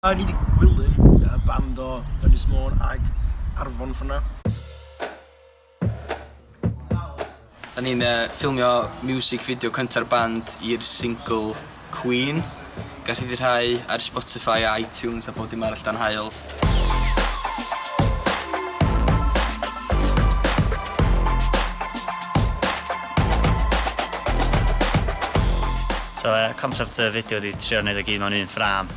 O'n i 'di gwilym y band o Ynys Môn ag Arfon ffwrdd 'na. O'n ni'n yy ffilmio miwsig fideo cynta'r band i'r singl Queen. Gall rhyddhau ar Spotify a iTunes a bob dim arall dan haul. So yy concept y fideo ydi trio neud o gyd mewn un ffrâm.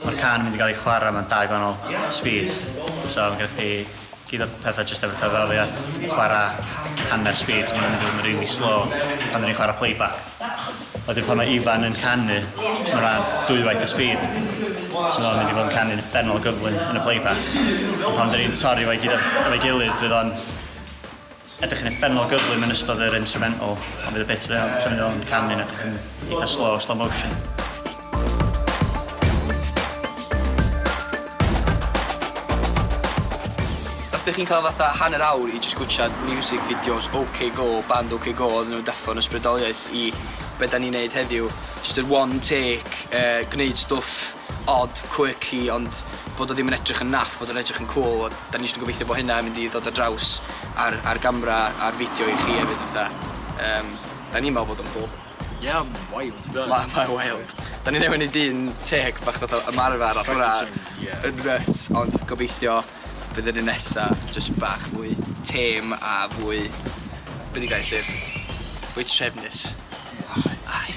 Mae'r cân yn mynd i gael ei chwarae mewn dau gwahanol speed, so ma' gennych chdi gyd o petha jyst efo cerddoriaeth, chwara' hanner speed so ma' nhw'n mynd i fod yn rili slow pan 'dan ni'n chwara' playback. Wedyn pan ma' Ifan yn canu ma' 'na dwywaith y speed so ma' o'n mynd i fod yn canu'n uffernol o gyflym yn y playback. Ond pan 'dan ni'n torri fo i gyd o- efo'i gilydd fydd o'n Ydych chi'n uffernol gyflym yn ystod yr instrumental, ond bydd y bit rhyl, lle mae o'n canu yn edrych yn eitha slow, slow motion. Os dych chi'n cael fatha hanner awr i just gwtshad music videos OK Go, band OK Go, oedden nhw'n deffo yn ysbrydoliaeth i be da ni'n neud heddiw. Just yr one take, uh, gwneud stwff odd, quirky, ond bod o ddim yn edrych yn naff, bod o'n edrych yn cŵl, a 'dan ni jyst yn gobeithio bo' hynna yn mynd i ddod ar draws ar ar gamra, ar fideo i chi efyd fatha yym 'dan ni'n me'wl bod o'n cŵl. Ie ma'n wild to be honest. Ma' ma'n wild. 'Dan ni newy'n neud un teg bach fatha ymarfer off hwnna. Practising ie. Yn nyts ond gobeithio bydd yr un nesa jyst bach fwy têm a fwy be' 'di gair lly? Fwy trefnus. Aye. Aye.